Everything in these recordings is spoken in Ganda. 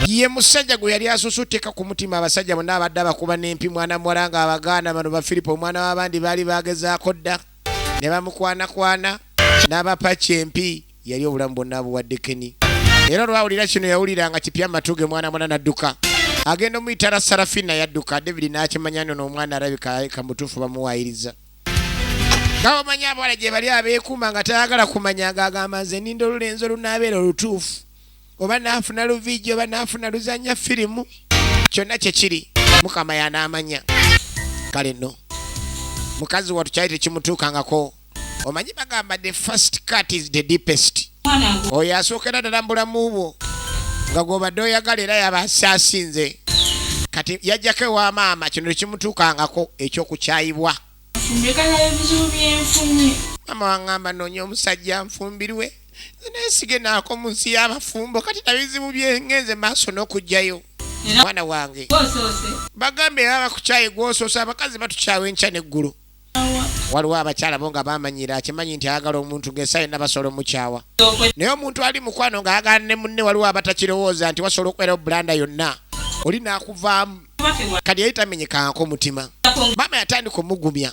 ye musajja gwe yali asusu teka ku mutima abasajja bonna abadde abakuba n'empi mwana muwala nga abagaana bano ba filipo omwana w'abandi baali bagezaako dda ne bamukwanakwana n'abapaki empi yali obulamu bwonna abuwadde keni era olwawulira kino yawulira nga kipya amatu ge mwana mwana n'adduka agenda omuyitala sarafina yadduka david n'akimanya nono omwana alabika kamutuufu bamuwaayiriza nga omanyi abawala gye bali abeekuuma nga tayagala kumanya ng'agamba nze ninda olulenzi olunaabeera olutuufu oba naafuna luviigi oba naafuna luzannya firimu kyonna kye kiri mukama yanaamanya kale nno mukazi watu kyali tekimutuukangako omanyi bagamba the first cut is the deepest oyo asookera ddala mu bulamu bwo nga gwobadde oyagala era yaba asaasinze kati yajjako ewa maama kino tekimutuukangako ekyokukyayibwa maama wangamba noonya omusajja nfumbirwe nesige naako mu nsi y'abafumbo kati nabizibu byengenze maaso n'okugjayo mwana wange bagambe aba bakukyaye gwosoose abakazi batukyawa enkya neggulu waliwo abakyala bo nga bamanyira akimanyi nti ayagala omuntu ngaesaa yonna basobola omukyawa naye omuntu ali mukwano nga ayagala ne munne waliwo abatakirowooza nti wasobola okubeera obulanda yonna oli nakuvaamu kati yali tamenyekangako omutima maama yatandika omugumya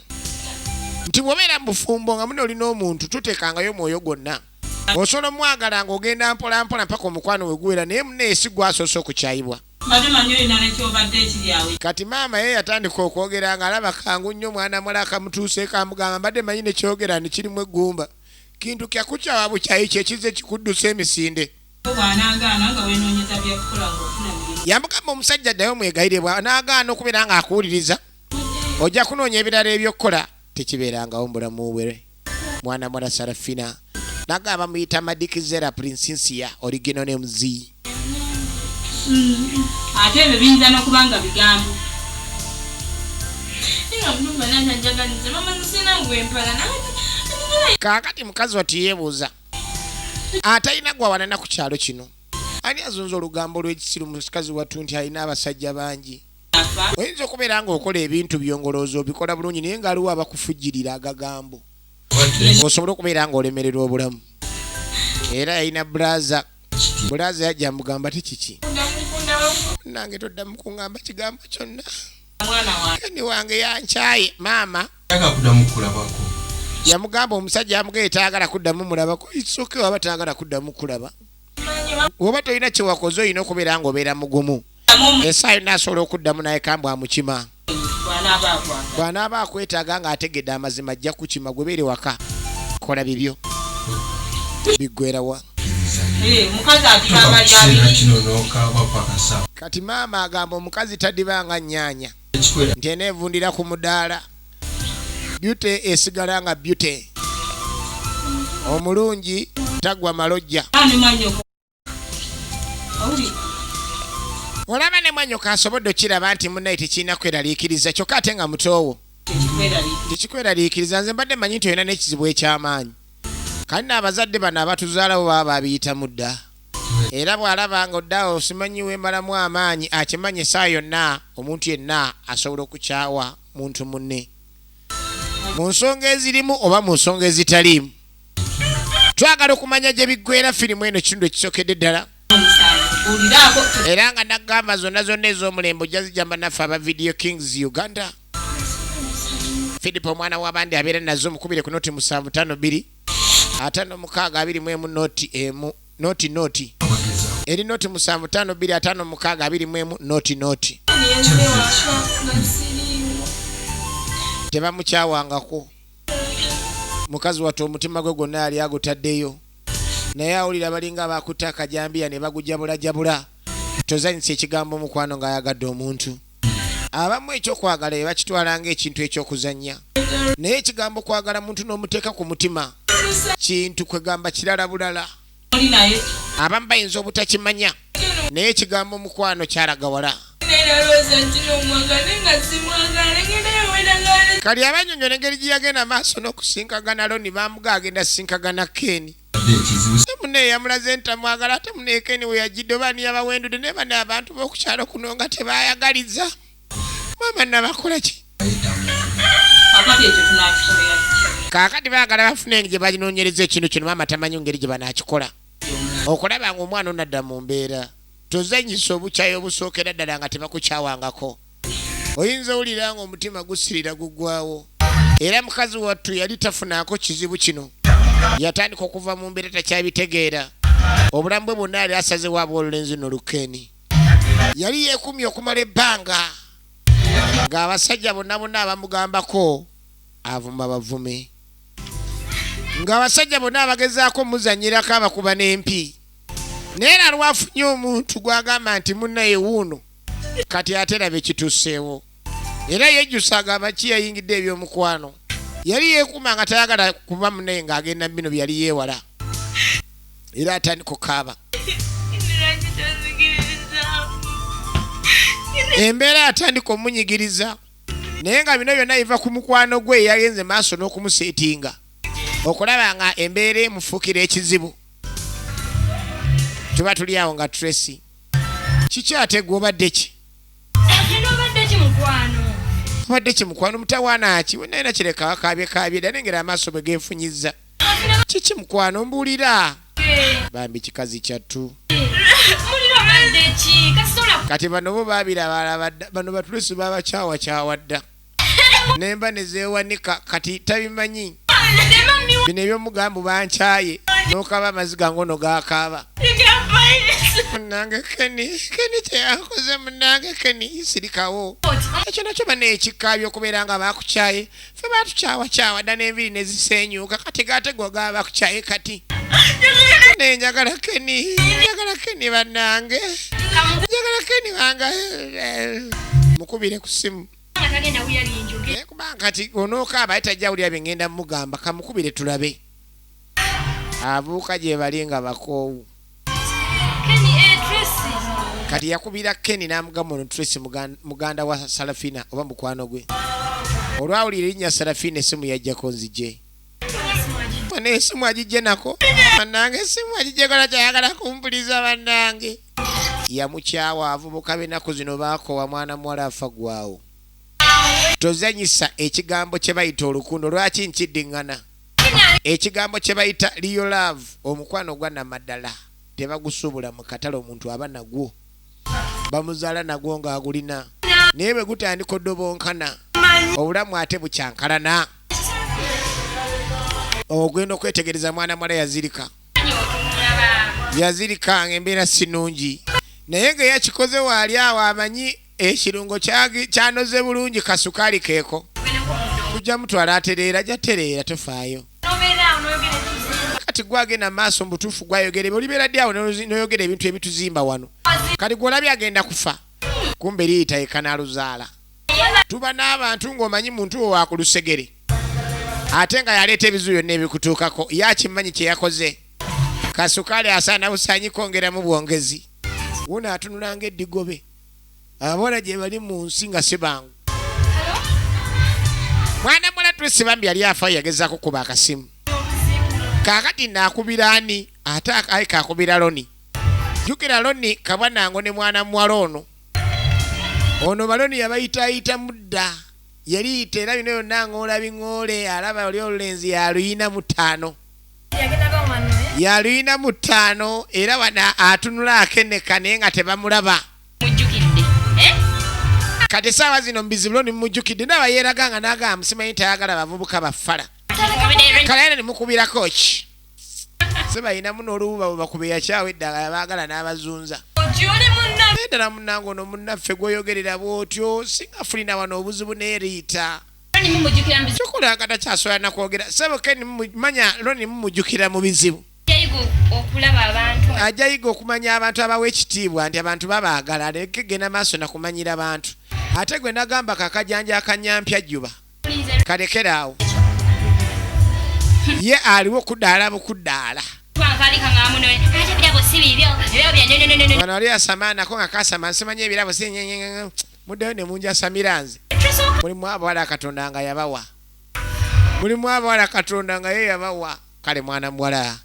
nti bwobeera mu bufumbo nga mune olina omuntu tutekangayo omwoyo gwonna osobola omwagala nga ogenda mpolampola mpaka omukwano weguwera naye muneesi gwasoose okukyayibwa Mbadde manyi olina ne ky'obadde ekiri awo. Kati maama ye yatandika okwogera ng'alaba kangu nnyo mwana muwala akamutuuseeko amugamba, mbadde manyi ne ky'ogera nti kirimu eggumba. Kintu kya kukyawa bukyayi kye kizze kikuddusa emisinde. Ko bw'anaagaana nga weenoonyeza bya kukola ng'ofuna mirimu. Yamugamba omusajja ddayo omwegayirire bw'anaagaana okubeera ng'akuwuliriza ojja kunoonya ebirala eby'okukola tekibeerangawo mu bulamu bwe. mwana mwana sarafina naga bamuyita madikizera prinsinsia origino ne muzi mm. ate ebyo biyinza nokuba nga bigambo kakati mukazi wati yebuuza atalina gwawanana ku kyalo kino ani azunza olugambo lwekisiru musikazi wattu nti alina abasajja bangi oyinza okubeera ng'okola ebintu byongolooza obikola bulungi naye nga aliwo abakufujirira agagambo osobola okubeera ng'olemererwa obulamu era yalina bulaza bulaza yajja mugamba ti kiki nange todda mukungamba kigambo kyonna kani wange yankyaye maama yamugamba omusajja amugaye tayagala kuddamu mulabako isoke waba tayagala kuddamu kulaba woba tolina kyewakoze olina okubeera ngaobeera mugumu esaayo nasobola okuddamu naye kambwe amukima bw'anaaba akwetaaga ng'ategedde amazima ajja kukima gwe beere waka kola bibyo biggwerawa Eh, kati maama agamba omukazi tadibanga nyanya nti enevundira ku mudaala byute esigala nga byute omulungi tagwa malojja olaba ne mwanyoka asobodde okiraba nti munaye tekirina kweraliikiriza kyokka ate nga mutoowo tekikweraliikiriza nze mbadde manyi nti olina n'ekizibu eky'amaanyi kale naabazadde bano abatuzaalawo baba babiyitamu dda era bw'alaba nga oddaawo simanyi wembalamu amaanyi akimanyi esaa yonna omuntu yenna asobola okukyawa muntu munne mu nsonga ezirimu oba mu nsonga ezitaliimu twagala okumanya gye biggwera firimu eno kitundu ekisokedde ddala era nga nagamba zonna zonna ez'omulembe ojja zijamba naffe aba video kings uganda philip omwana w'abandi abeera nazo omukubire ku noti musanvu tano bbiri atano mukaaga abiri mu emu noti emu noti noti eri noti musanvu tano bbiri atano mukaaga abiri mu emu noti noti tebamukyawangako mukazi wattu omutima gwe gwonna yali agutaddeyo naye awulira balinga abakutte akajambiya ne bagujabulajabula tozanyisa ekigambo omukwano ng'ayagadde omuntu abamu ekyokwagala be bakitwala ng'ekintu ekyokuzannya naye ekigambo kwagala muntu n'omuteeka ku mutima kintu kwegamba kirala bulala abamu bayinza obutakimanya naye ekigambo mukwano kyalaga wala kali abanyonyola engeri gyeyagenda maaso n'okusinkagana loni bamuga agenda sinkagana keni mune eyamulaze nti amwagala ate muneekeni weyajjidde oba niyabawendude naye bana abantu b'okukyalo kuno nga tebayagaliza maama nabakola ki kaakati baagala bafuna engeri gye balinonyereza ekintu kino maama tamanyi ngeri gye banaakikola okulaba nga omwana onadda mu mbeera tozanyisa obukyayi obusookera ddala nga tebakukyawangako oyinza owulira nga omutima gusirira gugwawo era mukazi wattu yali tafunaako kizibu kino yatandika okuva mu mbeera takyabitegeera obulamu bwe bwonna yali asazewo abwolulenzi nolukeeni yali yeekumye okumala ebbanga ng'abasajja bonna bonna abamugambako avuma bavume ng'abasajja bonna abagezaako omuzanyirako abakuba n'empi naye era lwafunye omuntu gw'agamba nti munnaye wuuno kati ate labe kituuseewo era yejjusanga amaki yayingidde ebyomukwano yali yeekuuma nga tayagala kuba mune nga agenda mu bino bye yali yeewala era atandika okukaaba embeera atandika omunyigiriza naye nga bino byonna biva ku mukwano gwe eyagenze maaso n'okumuseetinga okulaba nga embeera emufuukira ekizibu tuba tuli awo nga tracy kiki ate gwe obadde ki obadde kimukwano mutawaana ki naye nakireka akaabye kaabye dda nengera amaaso bwe geefunyizza kiki mukwano mbuulira bambi kikazi kyattu kati bano bo baabira bano batulusi babakyawakyawa dda nemba nezewanika kati tabimanyi bino ebyomugambu bankyaye nokaba amaziga ngono gakaaba munange keni keni kyeyakoze munange keni sirikawo ekyo nakyo banekikabya okubeera nga bakukyaye fe batukyawakyawa dda nenviri nezisenyuka kati gategwa gaba bakukyaye kati naye njagala keni njagala keni banange njagala keni wange mukubire ku simu naye kubanga kati onookaaba aye tajja wulira bye ngenda mugamba kamukubire tulabe abuuka gye bali nga bakoowu eh, kati yakubira keni n'amugamba ono tracy muganda wa salafina oba mukwano gwe olwawulira erinnya salafina esimu yajjako nzije Mwana esimu ajijje nako. Banange esimu ajijje kola kyayagala kumpuliza banange. Yamukyawa avubuka benaku zino bakowa mwana muwala afa gwawo. Tozanyisa ekigambo kye bayita olukundo lwaki nkiddingana. Ekigambo kye bayita real love omukwano gwa namadala tebagusubula mu katale omuntu aba nagwo. bamuzaala nagwo ng'agulina naye bwe gutandika odobonkana obulamu ate bukyankalana ogenda okwetegereza mwana mwala yazirika yazirika ngaembeera sinungi naye nga yakikoze waali awo amanyi ekirungo kyanoze bulungi kasukaali keeko tujja mutwala atereera jatereera tofaayo kati gwagenda maaso mubutuufu gwayogere olibeera ddi awo noyogera ebintu ebituzimba wano kati gwolabye agenda kufa kumbe liyita yekanaluzaala tuba n'abantu ng'omanyi muntu wo wakulusegere ate nga yaleeta ebizu byonna ebikutuukako yakimanyi kyeyakoze kasukaali asaana busanyi kwongeramu bwongezi wona atunulanga eddigobe abawala gyebali mu nsi nga sibangu mwana muwala twesi bambi yali afa yagezako kuba akasimu kakati nakubira ani ate ai kakubira loni jukira loni kabwa nango ne mwana muwala ono ono baloni yabayitayita mudda yali yita era bino yonna ng'ola biŋoole alaba oli olulenzi yaluyina mutaano yaluyina mu ttaano era wana atunula akeneka naye nga tebamulaba eh? kati esaawa zino mubizibulo nimujukidde naba yeraga nga nagamba simanyi tayagala bavubuka bafala kalayana nimukubirako ki sibayinamu nolububa bwebakuba eyakyawo eddagala bagala n'abazunza ddala munange ono munnaffe gwoyogerera bwotyo singa fulina wano obuzibu neriita kyokola nga takyasobola nakwogera sebo ken manya loni mumujukira mu bizibu ajja yiga okumanya abantu abawa ekitiibwa nti abantu babaagala aleke genda maaso nakumanyira abantu ate gwe nagamba kakajanja akanyampya juba kalekeraawo ye aliwo kudaala bukudaala wano ali asamaanako nga kasama nsimanyi ebirabo si muddayo ne munjasamira nze mulimu abawala katonda nga yabawa mulimu abawala katonda nga ye yabawa kale mwana muwala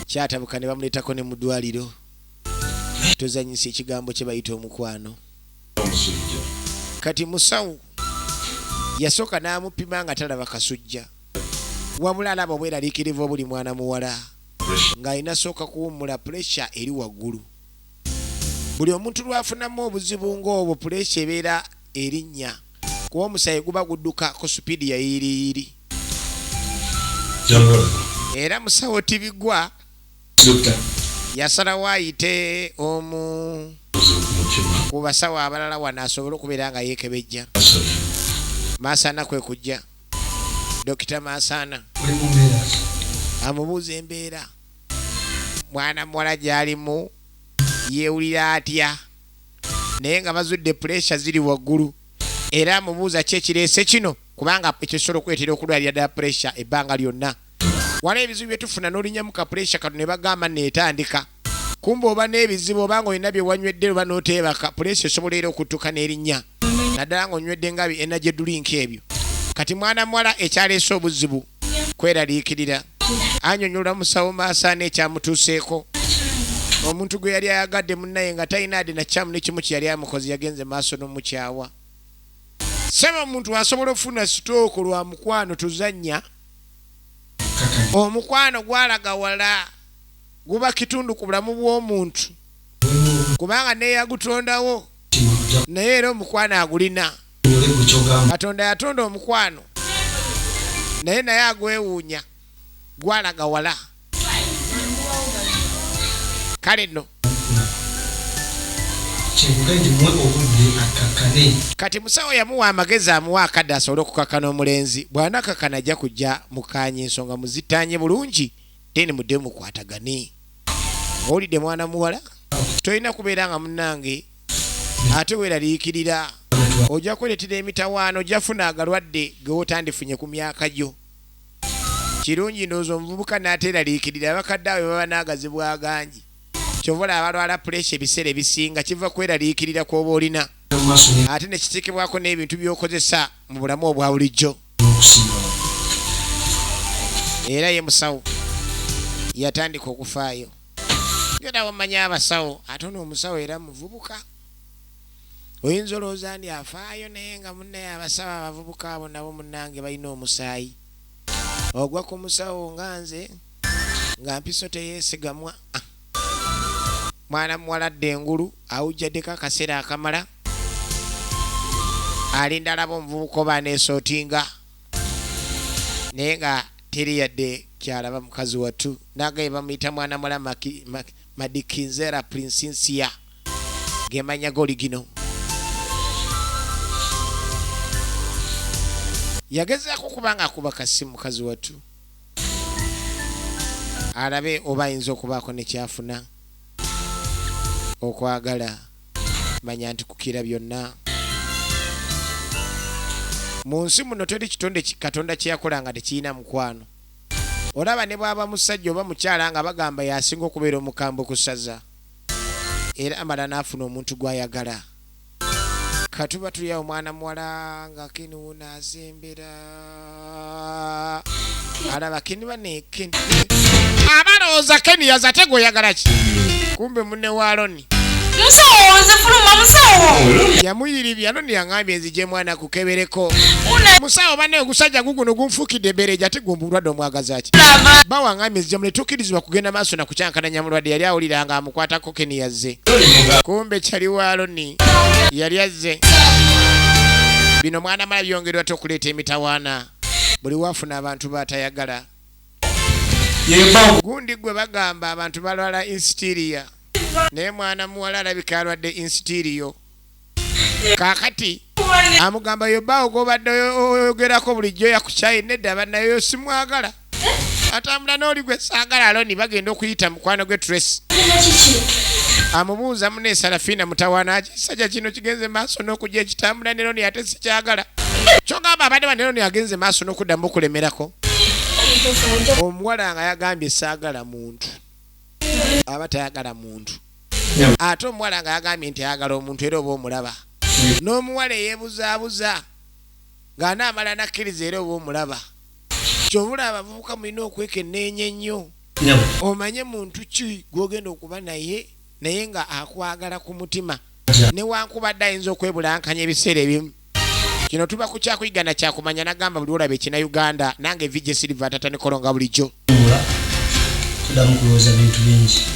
kyatabuka ne bamuleetako ne mu ddwaliro tozanyisa ekigambo kye bayita omukwano kati musawo yasooka n'amupima nga talaba kasujja wabula alaba obweraliikirivu obuli mwana muwala ng'alina sooka kuwummula puresha eri waggulu buli omuntu lwafunamu obuzibu ng'obwo puleesa ebeera erinnya kuba omusaayi guba gudduka ku supiidi ya yiiriyiiri era musawo tibigwa yasalawo ayite omu ku basawo abalala wano asobole okubeera nga yeekebejja maasaana kwe kujja dokita maasaana amubuuza embeera mwana muwala gy'alimu yeewulira atya naye nga bazudde puleesha ziri waggulu era amubuuza ki ekireese kino kubanga ekyo kisobola okuleetera okulwalira ddala puleesha ebbanga lyonna wala ebizibu bye tufuna n'olinyamu ka puleesha katu ne bagamba neetandika kumba oba n'ebizibu oba nga olina bye wanywedde oba n'oteebaka puleesha esobola era okuttuka n'erinnya naddala ng'onywedde nga bi energy drink ebyo kati mwana muwala ekyaleese obuzibu kweraliikirira anyonyola musawo maasaana ekyamutuuseeko omuntu gwe yali ayagadde munnaye nga talina ade nakyamu nekimu kye yali amukozi yagenze maaso n'omukyawa saba omuntu asobola okufuna sitooko lwa mukwano tuzannya omukwano gwalaga wala guba kitundu ku bulamu bw'omuntu kubanga neyagutondawo naye era omukwano agulina katonda yatonda omukwano naye naye agwewuunya gwalaga wala kale no kati musawo yamuwa amagezi amuwa akadde asobole okukakana omulenzi bwanakakana ajja kujja mukanye ensonga muzitanye bulungi then mudde mukwatagane owulidde mwana muwala tolina kubeera nga munange ate weraliikirira ojja kweretera emitawaano ojjafuna agalwadde gewotandifunye ku myaka gyo kirungi ndowooza omuvubuka naateraliikirira abakadde awe baba naagazibu agangi kyovola abalwala puleesa ebiseera ebisinga kiva kweraliikirira kwoba olina ate nekitekebwako n'ebintu byokozesa mu bulamu obwa bulijjo era ye musawo yatandika okufaayo genda wamanya abasawo ate ono omusawo era muvubuka oyinza olowooza ndi afaayo naye nga munnaye abasawo abavubuka abo nabo munnange balina omusaayi ogwa ku musawo nga nze nga mpiso teyeesigamwa mwana muwala adda engulu awujjaddeko akaseera akamala alinda alaba omuvubuka oba aneesootinga naye nga teri yadde kyalaba mukazi wattu nagaye bamuyita mwana muwala madikinzera prinsinsia gemanya goli gino yagezaako okuba nga akuba kasimu mukazi wattu alabe oba ayinza okubaako ne kyafuna okwagala manya nti kukira byonna mu nsi muno teri kitonde katonda kyeyakola nga tekirina mukwano olaba ne bwaba musajja oba mukyala nga bagamba yasinga okubeera omukambwe ku ssaza era amala n'afuna omuntu gw'ayagala katuba tulya omwana muwala nga kini wuno azembera alaba kini bane kini abalowooza keni yaza ate gweoyagala ki kumbe mune wa aloni musawo nze fuluma musawo yamuyiribya aloni yangambye nzije mwana kukebereko musawo bane ogusajja guguno gunfukidde ebereja ate gumba obulwadde omwagazaki bawangambye nzije muletukirizibwa kugenda maaso nakukyankananya mulwadde yali awulira nga amukwatako Keni yazze. Kumbe chali wa Aloni yali azze. Bino mwana mala byongerwa to kuleta emitawana. Buli wafuna abantu batayagala. Gundi gwe bagamba abantu balwala insteria. Naye mwana muwala alabika alwadde insteria. kakati amugamba yobaawo gobadde oyogerako bulijjo yakukyaye nedda banayo simwagala atambula nooli gwe saagala aloni bagenda okuyita mukwano gwe trace amubuuza mune sarafiina mutawaana kisajja kino kigenze maaso n'okujja ekitambula neroni ate sikyagala kyogamba abadde baneroni agenze maaso n'okuddamu okulemerako omuwala nga yagambye saagala muntu aba tayagala muntu ate omuwala nga yagambye nti ayagala omuntu era oba omulaba n'omuwala eyebuzaabuza ng'anaamala nakkiriza era oba omulaba kyobula abavubuka mulina okwekenneenya ennyo omanye muntu ki gw'ogenda okuba naye naye nga akwagala ku mutima newankubadde ayinza okwebulankanya ebiseera ebimu kino tuba ku kyakuyiga na kyakumanya nagamba buli olaba ekina uganda nange vije silva atata nikolonga bulijjo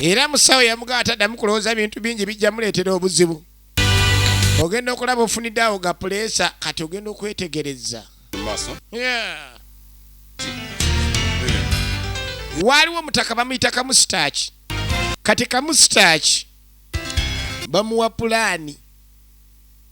era musawo yamugaba taddamu kulowooza bintu bingi bijja muleetera obuzibu ogenda okulaba ofunidde awo ga puleesa kati ogenda okwetegereza waaliwo omutaka bamuyita kamusitaaki kati kamusitaaki bamuwa pulaani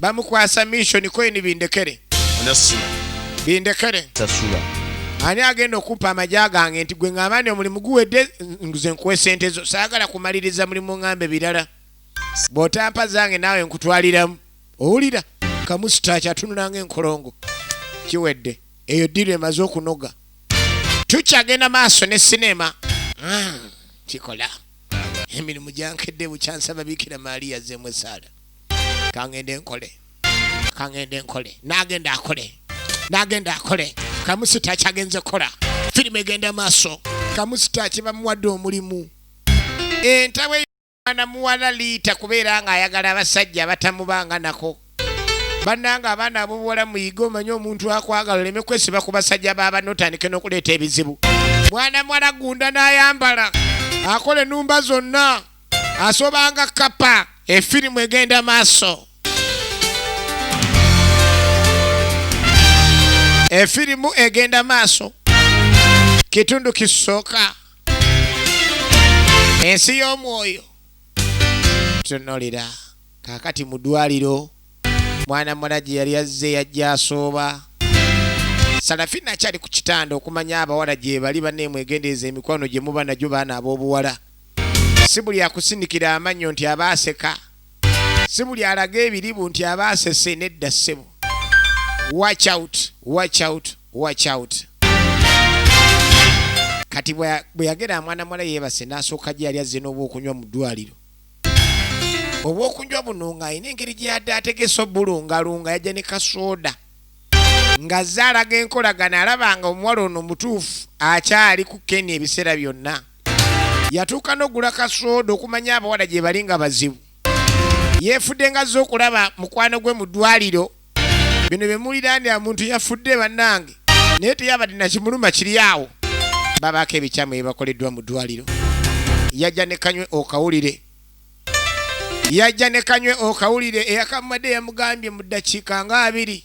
bamukwasa mission koyini bindekere bindekere ani agenda okumpa amagya gange nti gwe ngamba ni omulimu guwedde nze nkuwa esente zo saagala kumaliriza mulimu ngambe birala bw'otampa zange naawe nkutwaliramu owulira kamusitaaki atunulanga enkolongo kiwedde eyo ddiru emaze okunoga tukyagenda maaso ne sineema ah, kikola emirimu gyankedde bukyansaba biikira maaliya zeemu esaala kangende nkole kangende nkole nagenda akole nagenda akole kamusita akyagenze kola firimu egenda maaso kamusita akibamuwadde omulimu entawe ana muwala liita kubeera nga ayagala abasajja abatamubanga nako bannanga abaana abobuwala muyige omanye omuntu akwagala oleme kwesiba ku basajja babana otandike n'okuleeta ebizibu mwana muwala gunda n'ayambala akola enumba zonna asobanga kapa efirimu egenda maaso efirimu egenda maaso kitundu kisooka ensi y'omwoyo tunolera kakati mu ddwaliro mwana mwana gye yali azze yajja asooba salafina akyali ku kitanda okumanya abawala gyebali baneemwegendereza emikwano gye muba nagyo baana ab'obuwala si buli akusindikira amannyo nti aba aseka si buli alaga ebiribu nti aba asese nedda ssebo watch out watch out watch out kati bwe yagera amwana mwala yeebase n'asooka gye yali azze n'obwokunywa mu ddwaliro obwokunywa buno ng'alina engeri gye yadde ategese obulungalunga yajja ne kasooda ng'azze alaga enkolagana alaba nga omuwala ono mutuufu akyali ku keni ebiseera byonna yatuuka n'ogula kasooda okumanya abawala gye bali nga bazibu yeefudde ngazze okulaba mukwano gwe mu ddwaliro bino bye muwulira ndi amuntu yafudde bannange naye teyabadde nakimuluma kiri awo babaako ebikyamu ebibakoleddwa mu ddwaliro yajja ne kanywe okawulire yajja ne kanywe okawulire eyakamumadde yamugambye mu ddakiika nga abiri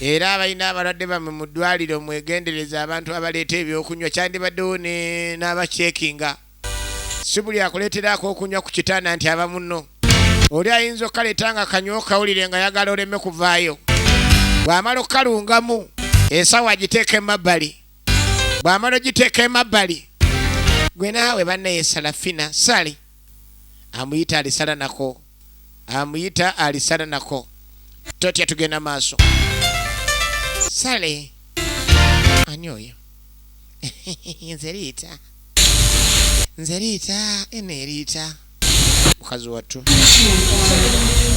Era abalina abalwadde bammwe mu ddwaaliro mwegendereze abantu abaleeta ebyokunywa kyandibaddewo ne n'abakyekinga. Si buli akuleetera ak'okunywa ku kitanda nti aba munno. Oli ayinza okukaleeta nga kanywa okawulire nga ayagala oleme kuvaayo. Bw'amala okukalungamu, ensawo agiteeka emabbali. Bw'amala ogiteeka emabbali, ggwe naawe banne yesala ffina, ssali, amuyita alisalanako. amuyita alisana nako totya tugenda maaso sale ani oyo nze liita nze liita eno eriita mukazi wattu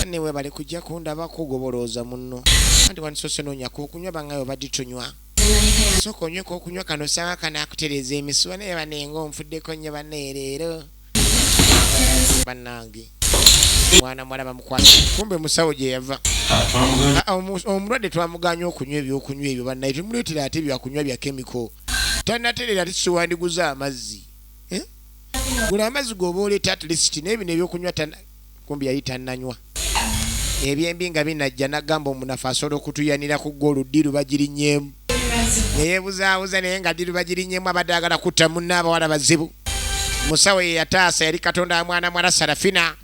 ne webale kujja kundaba kugobolooza munno anti wandisose noonyako okunywa bangaye obadde tunywa sooka onyweko okunywa kano sanga kanakutereeza emisuwa naye banenga onfuddeko nnyo banaye leero banange mwana mwala bamukwata kumbe musawo gyeyava ah, ah, omulwadde twamuganya okunywa ebyokunywa ebyo banaye temuleetera ate byakunywa bya kemiko tanaterera ati siwandiguza amazzi eh? gula amazzi goba oleta atleast naye bino ebyokunywa kumbi yali tannanywa. Ebyembi nga binajja n'agamba omunafu asobola okutuyanira ku ggoolo ddi Lubagirinyeemu. Ne yeebuzaabuza naye nga ddi Lubagirinyeemu abadde ayagala kutta munne abawala bazibu. Musawo ye yataasa yali Katonda wa mwana muwala Sarafina.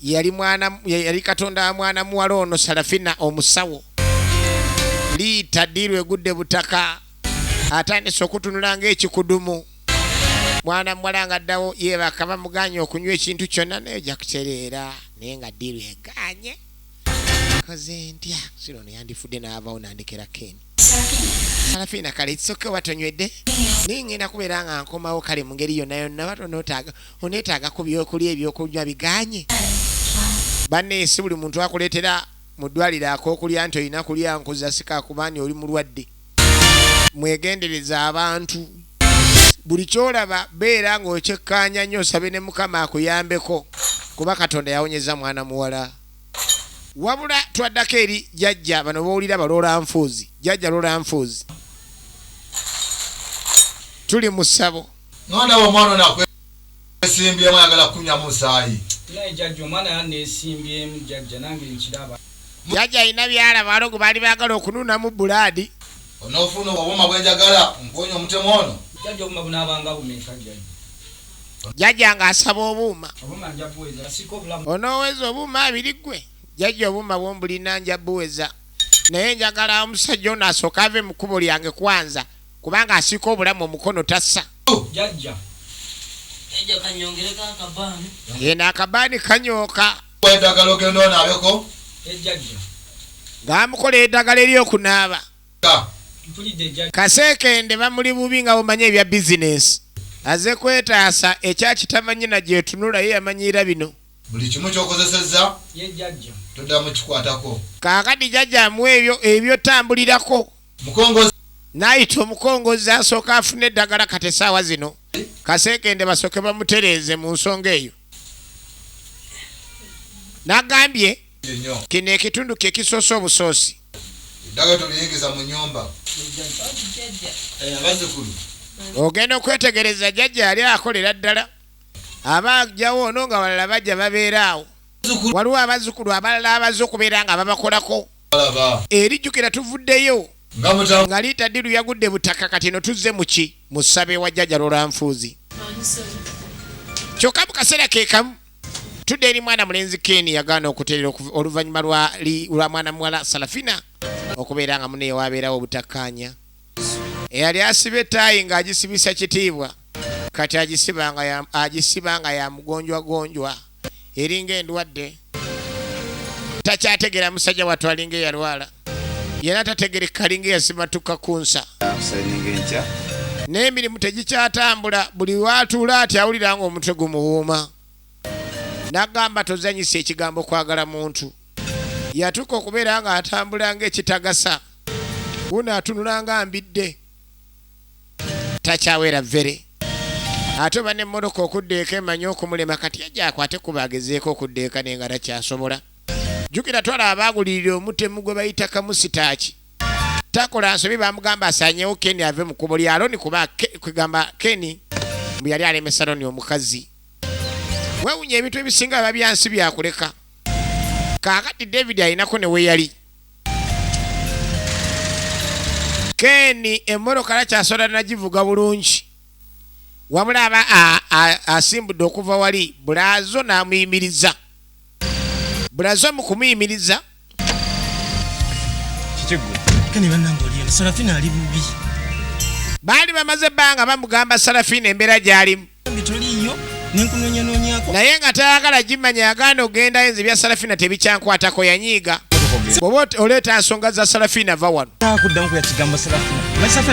Yali mwana, yali Katonda wa mwana muwala ono Sarafina omusawo. Liita ddiiru egudde butaka. Atandise okutunula ng'ekikudumu. mwana muwala nga addawo yeebaka bamuganye okunywa ekintu kyonna naye ojja kutereera naye nga diiru eganye koze ntya sira ono yandifudde n'avawo nandekera keni alafiina kale kisoke oba tonywedde naye ngenda kubeera nga nkomawo kale mu ngeri yonna yonna bat oneetaaga ku byokulya ebyokunywa biganye banne si buli muntu akuleetera mu ddwaliro ak'okulya nti olina kulya nkuza sikakubaani oli mulwadde mwegendereze abantu buli kyolaba beera ng'okyekkaanya nnyo osabe ne mukama akuyambeko kuba katonda yawonyeza mwana muwala wabula twaddako eri jajja bano bowulira baloola nfuuzi jajja loola nfuuzi tuli mu ssabo Nesimbyemu ayagala kunya musayi. Naye jajja omwana yanesimbyemu jajja nange nkiraba. Jajja alina byalaba balogo bali bagala okununamu buladi. Onofuna obubuma bwenjagala nkuwonye omutemu ono. Jajja obuma bunabanga bumeka jajja. Jajja nga asaba obuuma. Obuma nja buweza siko bulamu. Onoweza obuuma abiri gwe. Jajja obuuma bwombulina nja buweza. Naye njagala omusajja ono asoka ave mukubo lyange kwanza. kubanga asiika obulamu omukono tassa yena akabaani kanyooka edagala ogenda onaabeko ngaamukola edagala eryokunaaba kaseekende bamuli bubi nga bumanya ebya bizinensi aze kwetaasa ekyakitamanyi na gyetunula ye yamanyiira bino buli kimu kyokozesezza toddamu kikwatako kaakati jajja amuwa ebyo ebyo tambulirako Mukongozzi. Night omukongozzi asooka afune eddagala kati essaawa zino kaseekende basooke bamutereeze mu nsonga eyo. Nagambye kino ekitundu kye kisoose obusoosi. Ogenda okwetegereza jajja yali akolera ddala aba ajjawo ono nga balala bajja babeera awo waliwo abazzukulu abalala abaze okubeera nga babakolako. Erijjukira tuvuddeyo nga liita ddiru yagudde butaka kati eno tuzze muki mu ssabe wa jjaja lolanfuuzi kyokka mu kaseera ke kamu tudde eri mwana mulenzi ken yagaana okuterera oluvannyuma lwa mwana muwala salafina okubeera nga muneyo wabeerawo obutakkaanya eyali asiba etaayi ng'agisibisa kitiibwa kati agisiba nga yamugonjwagonjwa eringa endwadde takyategeera musajja watu alinga eyalwala yena tategereka alinga eyasimatuka ku nsa naye emirimu tegikyatambula buli watuula ati awulira nga omutwe gumuwuuma nagamba tozanyisa ekigambo kwagala muntu yatuuka okubeera nga atambula ngaekitagasa wuno atunula nga mbidde takyawera vere ate oba nemmotoka okuddeeka emanyi okumulema kati yajja akwate kuba agezeeko okuddeeka naye nga takyasobola jjukira twala abaagulirira omutemu gwe bayita kamusitaaki takola nsobi bamugamba asanyewo keni ave mu kubo lya loni kuba kwegamba keni mbu yali alemesa loni omukazi wewunya ebintu ebisinga biba byansi byakuleka kaakati david alinako ne weyali Ken emmotoka lakyasola nagivuga bulungi wabula aba asimbudde okuva wali bulazo n'amuyimiriza bulazo mu kumuyimiriza baali bamaze ebbanga bamugamba sarafina embeera gy'alimu naye nga tayagala gimanya yaganda ogendayo nze bya salafina tebikyankwatako yanyiiga bwoba oleeta nsonga za salafina va wano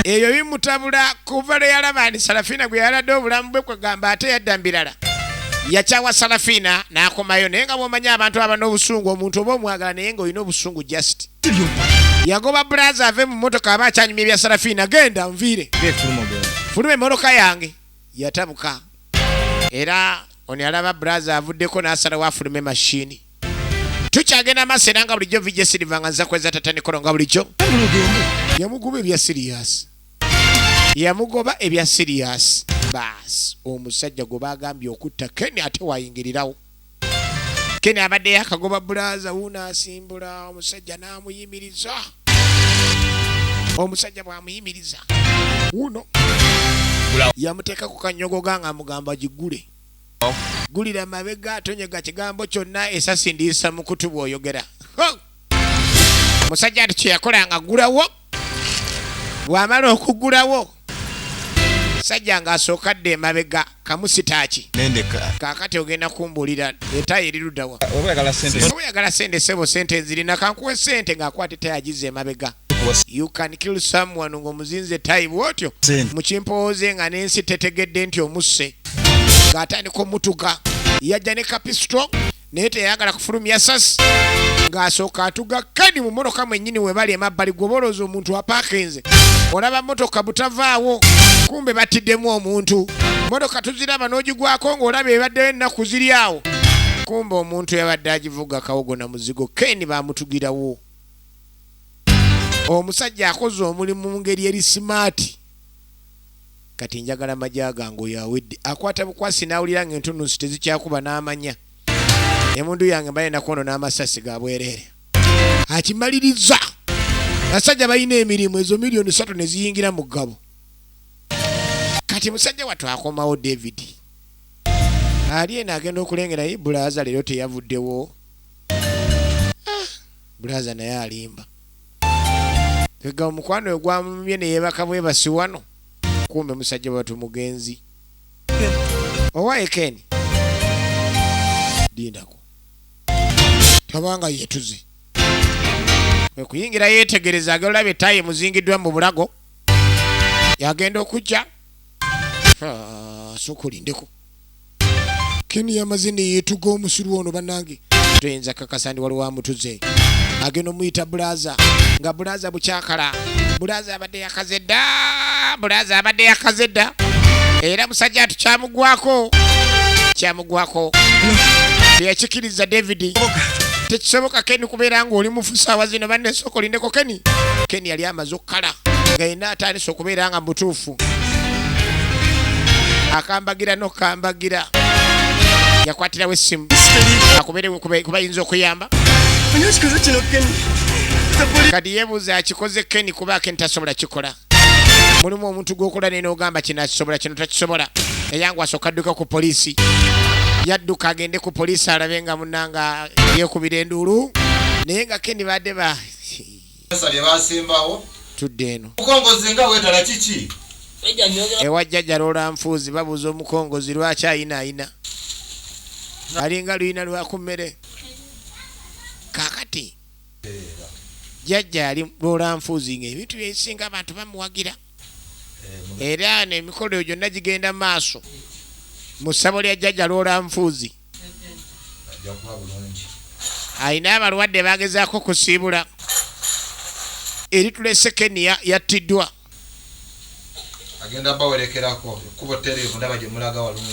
ebyo bimutabula kuva lwe yalaba nti salafina gwe yaladde obulamu bwe kwegamba ate yadda mbirala yakyawa salafina n'akomayo naye nga bwomanyi abantu aba n'obusungu omuntu oba omwagala naye nga olina obusungu just yagoba bulaza ave mu motoka aba akyanyumya ebya salafina genda nviire fuluma emotoka yange yatabuka era ono yalaba braza avuddeko n'asalawo afulume mashini tukyagenda maaso era nga bulijjo vijja siriva nga nza kweza tata nikolo nga bulijjo yamugoba ebya siriyasi yamugoba ebya siriyasi baasi omusajja gwe baagambye okutta keni ate wayingirirawo kene abadde yakagoba bulaza wuuno asimbula omusajja n'amuyimiriza omusajja bw'amuyimiriza wuuno yamuteeka ku kanyogoga ng'amugamba gigule gulira mabega atonyega kigambo kyonna esasi ndiisa mukutu bw'oyogera musajja nti kyeyakola nga gulawo bwamala okugulawo sajja ng'asooka dda emabega kamusitaaki kakati ogenda kumbuulira etayo erirudawa oyagala sente sebo sente enzirina kankuwe sente ng'akwata etayo agize emabega you can kill someone ng'omuzinze etayi bwotyo mukimpowooze nga n'ensi tetegedde nti omusse ng'atandika omutuga yajja ne kapisito naye teyayagala kufulumya sasi ng'asooka atuga kani mu motoka mwennyini we bali emabbali gwoba olowooza omuntu apaakinze olaba motoka butavaawo kumbe battiddemu omuntu motoka tuziraba n'ogigwako ng'olaba ebaddeyo ennaku ziri awo kumbe omuntu yabadde agivuga kawogo na muzigo keni baamutugirawo omusajja akoze omulimu mu ngeri eri simaati kati njagala maja gange oyo awedde akwata bukwasi nawulira nga entunusi tezikyakuba n'amanya emundu yange mbaye nakono n'amasasi ga bwereere akimaliriza basajja balina emirimu ezo miliyoni satu ne ziyingira mu ggabo kati musajja wattu akomawo david ali eno agenda okulengera ye bulaaza leero teyavuddewo ah, bulaaza naye alimba ega omukwano egwamumye neyebaka bwebasi wano kumbe musajja watu mugenzi owaye keni dindako tabanga yetuze ekuyingira yetegereza agenda olaba etayi emuzingiddwa mu bulago yagenda okujja sokulindeko keni yamaze neyetuga omusiru ono banange toyinza kakasa ndi waliwo amutuze agenda omuyita bulaza nga bulaza bukyakala bulaza abadde yakaze dda bulaza abadde yakaze dda era musajja atu kyamugwako kyamugwako teyakikiriza davidi tekisoboka keni kubeera ngaoli mufusawa zino bannesooka olindeko keni keni yali amaze okukala nga yena atandise okubeera nga mutuufu mukulu akambagira nokambagira yakwatirawo essimu akuberewe kubayinza okuyamba kati yebuuza akikoze keni kuba akeni tasobola kikola mulimu omuntu gwokola naye nogamba kino akisobola kino takisobola eyangu asooka adduka ku poliisi yadduka agende ku poliisi alabe nga munanga yekubira enduulu naye nga keni badde ba tudde eno ewa jjajja loola nfuuzi babuuza omukongozi lwaki ayina ayina alinga luyina lwaku mmere kakati jjajja ali loola nfuuzi nga ebintu byesinga abantu bamuwagira era nemikolo egyo gyonna gigenda maaso mu ssabo lya jjajja loola nfuuzi alina abalwadde bagezaako kusiibula eritula esekeniya yattiddwa agenda bawerekerako ekubo terevu ndaba gyemulaga walungi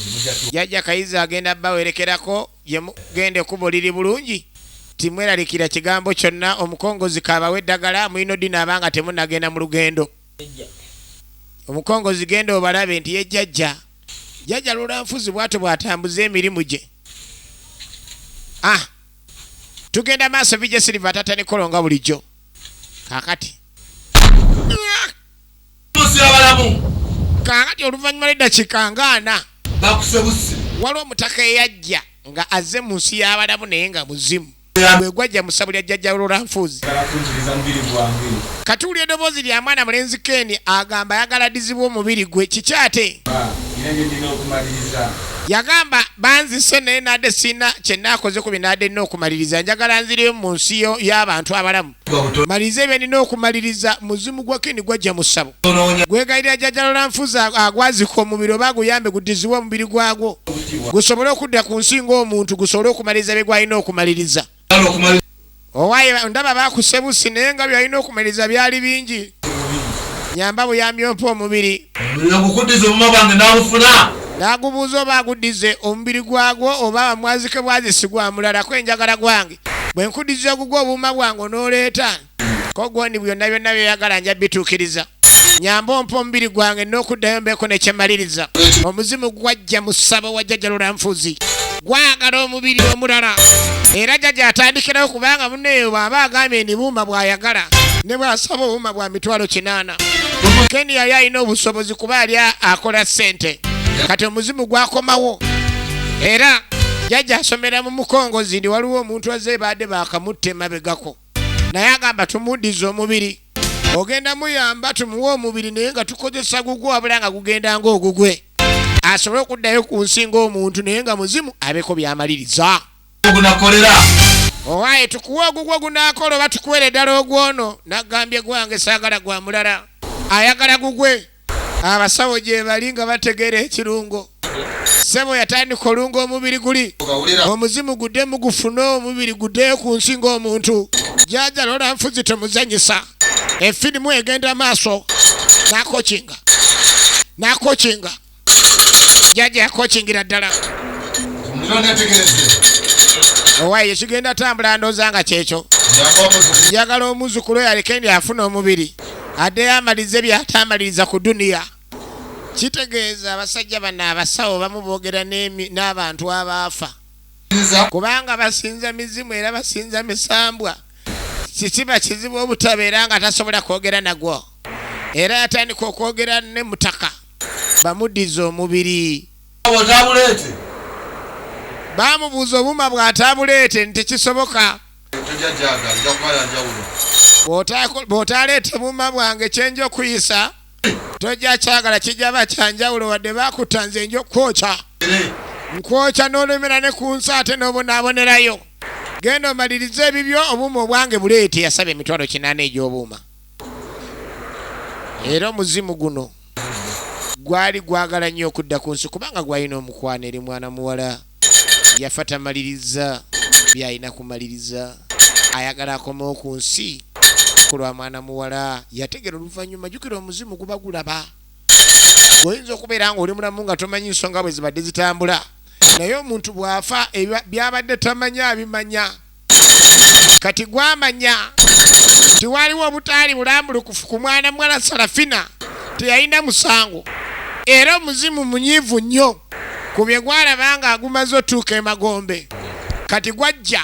jajja kayiza agenda bawerekerako gyemugenda ekubo liri bulungi timweralikira kigambo kyonna omukongozi kabawe eddagala mulina odinaaba nga temunagenda mu lugendo Omukongozzi genda obalabe nti ye jjajja. Jjajja Lulanfuzi bwatyo bwatambuza emirimu gye. Ah! Tugenda maaso VJ Silver atatta ne kolo nga bulijjo. Kaakati. Kaakati oluvannyuma lw'eddakiika nga ana. Waliwo omutaka eyajja nga azze mu nsi y'abalamu naye nga muzimu. gwe gwajja mu ssabu lya jjajja lulanfuuzi katuuli edoboozi lya mwana mulenzi keni agamba ayagala dizibwa omubiri gwe kiki ate yagamba banzise naye nade sirina kyenaakoze ku binade nina okumaliriza njagala nziriyo mu nsi y'abantu abalamu maliriza ebyenina okumaliriza muzimu gwa kini gwajja mu ssabo gwegayirira jajalola nfuzi agwazika omubiri oba guyambe gudiziwe omubiri gwagwo gusobole okudda ku nsi ngaomuntu gusobole okumaliriza bye gwalina okumaliriza owaye ndaba bakusebusi naye nga byalina okumaliriza byali bingi nyamba buyambi ompa omubiri nagubuuza oba aguddize omubiri gwagwo oba bamwazike bwazisi gwamulalako enjagala gwange bwe nkuddiza ogugwa obuuma bwange onooleeta ko gondi byonna byonna byoyagala nja bituukiriza nyamba ompa omubiri gwange n'okuddayo mbeeko nekyemaliriza omuzimu gwajja mu ssabo wa jjajja lulanfuzi gwagala omubiri omulala era jjajja atandikirawo kubanga muneeyo bw'aba agambye ndi buuma bw'ayagala ne bw'asaba obuuma bwa mitwalo kinaana keni yali alina obusobozi kuba ali akola ssente kati omuzimu gwakomawo era jajja asomera mu mukongozi ndi waliwo omuntu azze baadde bakamutta emabegako naye agamba tumuddiza omubiri ogenda muyamba tumuwe omubiri naye nga tukozesa gugwe wabula nga gugenda ngaogugwe asobole okuddayo ku nsi ngaomuntu naye nga muzimu abeko byamaliriza gunakolera owaye tukuwa ogugwo gunakola oba tukuwere ddala ogwono nagambye gwange saagala gwa mulala ayagala gugwe abasawo gyebali nga bategeera ekirungo sebo yatandika olunga omubiri guli omuzimu gudde mugufune omubiri gudde ku nsi ngaomuntu jaja lola nfuzi temuzanyisa efirimu egenda maaso nakokinga nakokinga jaja yakokingira ddala owaye kigenda tambula ndoza nga kyekyo njagala omuzukulu yalikendi afuna omubiri addeyo amalize byataamaliriza ku duniya kitegeeza abasajja bano abasawo bamu boogera n'abantu abaafa kubanga basinza mizimu era basinza misambwa kikiba kizibu obutabeera nga tasobola kwogera nagwo era yatandika okwogera ne mutaka bamuddiza omubiri baamubuuza obuma bw'ataabuleete nti kisoboka bw'otaaleete buuma bwange kye nja okuyisa tojja kyagala kijja ba kyanjawulo wadde baakutta nze nja okukwokya nkwokya n'olumira ne ku nsi ate n'obonaabonerayo genda omalirize ebibyo obuuma obwange buleete yasaba emitwalo kinaana egy'obuuma era omuzimu guno gwali gwagala nnyo okudda ku nsi kubanga gwalina omukwano eri mwana muwala yafa tamaliriza byalina kumaliriza ayagala akomewo ku nsi ku lwa mwana muwala yategera oluvannyuma jukira omuzimu guba gulaba oyinza okubeera nga oli mulamu nga tomanyi nsonga bwe zibadde zitambula naye omuntu bw'afa byabadde tamanya abimanya kati gwamanya nti waliwo obutaali bulambulukufu ku mwana muwala Sarafina teyalina musango era omuzimu munyiivu nnyo ku bye gwalaba nga agumaze otuuka emagombe kati gwajja